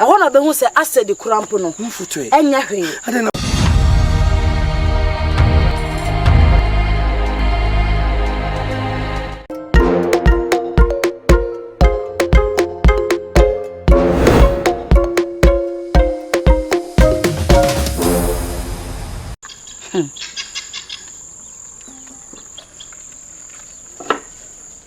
Ɛhɔ na ɔbɛhu sɛ asɛde kura mpo no, ɛnyɛ hwee.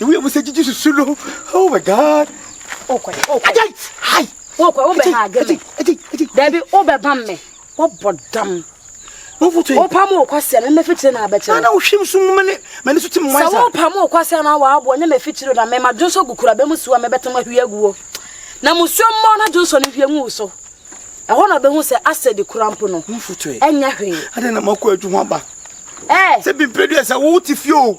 Ewu ewu sɛ jiji susu no. Oh my God. Okɔ yi. Okɔ yi. Hai. Okɔ wo bɛ ha agye mi. Eji eji. Dabi wo bɛ bam mi. Wo bɔ dam. Wo futu yi. Wo pam wo kɔ sɛ mi mɛ fitiri na abɛkyerɛ. Nana wo hwim sum mɛ ne mɛ ne so ti mu wansa. Sɛ wo pam wo kɔ sɛ na wa abo nye mɛ fitiri na mɛ ma dwonso gu kura bɛ mu suwa mɛ bɛ tɛm ahwi agu wo. Na mu suwa mmɔ na dwonso ne hwie ngu wo so. Ɛhɔ na ɔbɛhu sɛ asɛ di kura mpo no. Ɛnyɛ hwee. Adɛn na makɔ adwuma ba. Ɛɛ. Sɛ bi mpɛ du ɛsɛ wo ti fie o.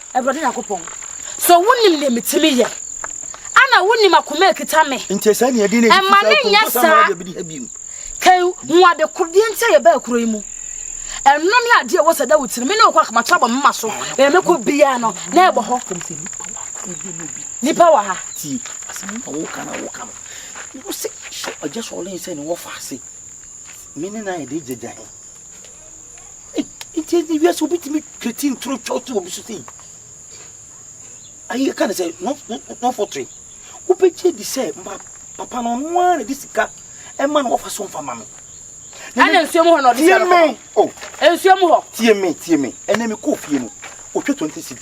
Awurade Nyankopɔn, so wunim nea mitumi yɛ? Ana wunim akoma a ekita me? Nkyɛ saa nea ɛde na ɛde Ɛma ne nyɛ saa. Kan hu ade koro deɛ nti a yɛbaa kuro yi mu. Ɛno ne adeɛ ɛwɔ sɛ da wo tirim. Me ne wo kɔ akoma to abɔ me mma so. Baabi mekɔ biara no, na ɛbɔ hɔ. Nipa wɔ ha. Tie, asɛm a woka na woka no. Wo se hyɛ ɔgya sɔɔlen sɛ ne wɔfa ase. Me ne no ayɛ de gyagya he. Nti ɛnde wiase obi tumi twati ntoro twɛw to obi so sei. Ayi ɛka ne sɛ no no no fɔtiri. Wobɛgye di sɛ ma papa no ɔno ara na de sika ɛma no wɔfa so mfa ma no. Ɛna nsuo mu hɔ na ɔde sika no kɔ. Tie me o. Nsuo mu hɔ. Tie me tie me. Ɛnna mi kɔɔ fie no, otwa twenty cedi.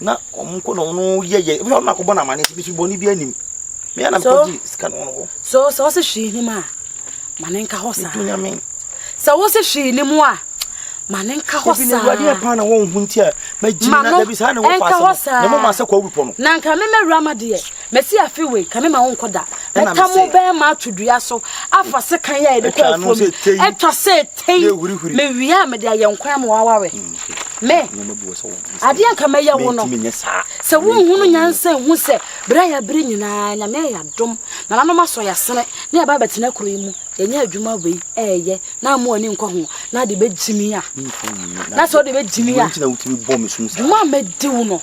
Na wɔn nko na wɔn yɛ yɛ ebi wɔn na akɔbɔ n'amane ebi so bɔne bi anim mea na mekɔ gye sika no wɔn hɔ. so sɛ wɔsɛ hwee nim a ma ne nka hɔ saa dunyame sɛ wɔsɛ hwee nim a ma ne nka hɔ saa ebi na awurade yɛ paa na wɔn ho nti a ma gyina na dabi saa na wɔn fa asɛm na mo ma sɛ kɔ awi pɔ no na nka mɛmɛ wura ma deɛ Mɛsi afe wei ka me ma wo nkɔ da. Mɛta mo bɛrima ato dua so afa sekan yɛ a yɛde kɔ afuo mu. Ɛtwa sɛ tei mewia a mede ayɛ nkwan ama waware. Hmm, me adeɛ anka mɛyɛ wo no sɛ wonhunu nyansa nhu sɛ berɛ a yɛabere nyinaa nyame ayɛ adom nananom asɔ yɛasene ne yɛba bɛtena kuro yi mu yɛnyɛ adwuma wei ɛɛyɛ na amu ani nkɔ ho na ade bɛgyimi a na sɛ wode bɛgyimi a dwuma a mɛdi wo no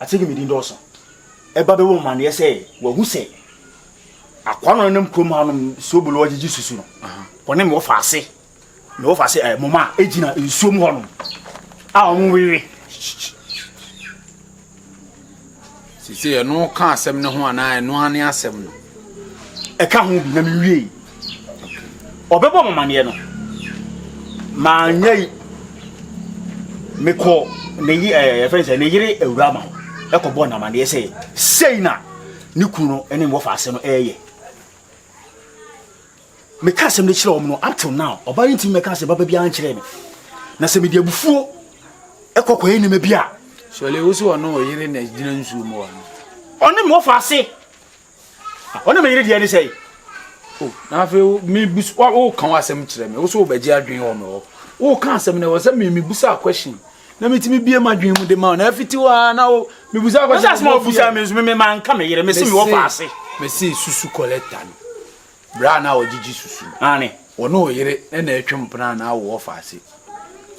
Akyɛ dwumadi dɔɔso. Ɛba bɛbɔ mo amanneɛ sɛ wɔahu sɛ akoa no a ɔnenam kurom ha nom soobolo agyegye susu no, ɔne me wɔfa ase, me wɔfa ase ɛɛ moma a egyina nsuo mu hɔ nom a wɔn wewe. Sisi ɛno ka asɛm no ho anaa ɛno ane asɛm no? Ɛka ho bi na me wie. Ɔbɛbɔ mo amaneɛ no, manyɛ yi. Mekɔɔ ne ye ɛɛ eh, yɛfrɛ sɛ ne yere awura ma ɛkɔbɔɔ no amaneɛ sɛ sei na ne kunu no ne me wɔfa ase no ɛyɛ. Meka asɛm no kyerɛ wɔn no up till now ɔbaa no ntumi mɛka asɛm baba biara nkyerɛ me. Na sɛ mede abufuo ɛkɔ kɔyɛ nneɛma bi a. Sɔle wo sɛ ɔno ɔyere na gyina nsuo mu wɔ no. Ɔne me wɔfa ase. Wo ne me yere deɛ ne sɛe. O, na afei wo mebusa wo ka w'asɛm kyerɛ me. Wo so wobɛgye adwene wɔ me hɔ. Wo ka asɛm na ɛwɔ sɛ me mebusa question na metumi bie m'adwene mu de ma wo na afiti hɔ ara na wo mebusa question. Wosɛ asɛm a wobusa me nso me mema nka me yere me se me wɔ faase. Me se susu collector no. Bra a na ɔgyegye susu no. Ane. Wɔne wo yere na ɛtwe mpena na wo wɔ faase.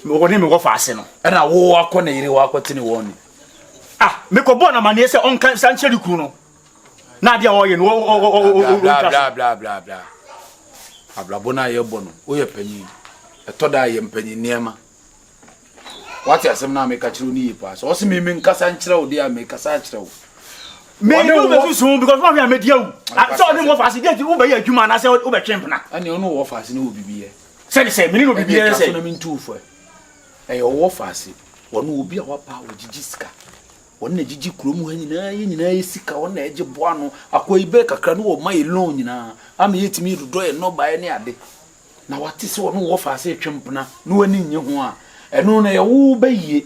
Wɔne me wɔ faase no. Ɛna wo akɔ ne yere wakɔtene wɔn no. Ah, mekɔbɔɔ no amanneɛ sɛ ɔnka sankyerɛ ne kunu no. na adeɛ a wɔyɛ no blablabla abrabɔ no a yɛbɔ no woyɛ panyin ɛtɔ da a yɛ mpanyin nneɛma wate asɛm no a meka kyerɛ wo ne yie paa sɛ ɔse me menkasa nkyerɛ wo deɛ a mekasa akyerɛ wo mene wo bɛsusu because woahwɛ a mɛdi awu sɛ ɔne wɔ faase deɛ nti wobɛyɛ adwuma anaasɛ wobɛtwe mpena ɛne ɔne wɔ faase ne wɔ bibiyɛ sɛde sɛ mene no bibiyɛ sɛ ɛyɛ ɔwɔ faase wɔne obi a wapa wɔgyegye sika Wɔn na ɛgyegye kurom ha nyinaa, yɛn nyinaa yɛ sika, wɔn na ɛgye boa ano. Akoa yi bɛɛ kakra no wɔma yɛ loan nyinaa ama yɛtumi dodɔ yɛn nnɔbaeɛ ne ade. Na wate sɛ ɔne wo ɔfa ase retwe mpena na w'ani nnye ho a, ɛno na ɛyɛ wo bayie.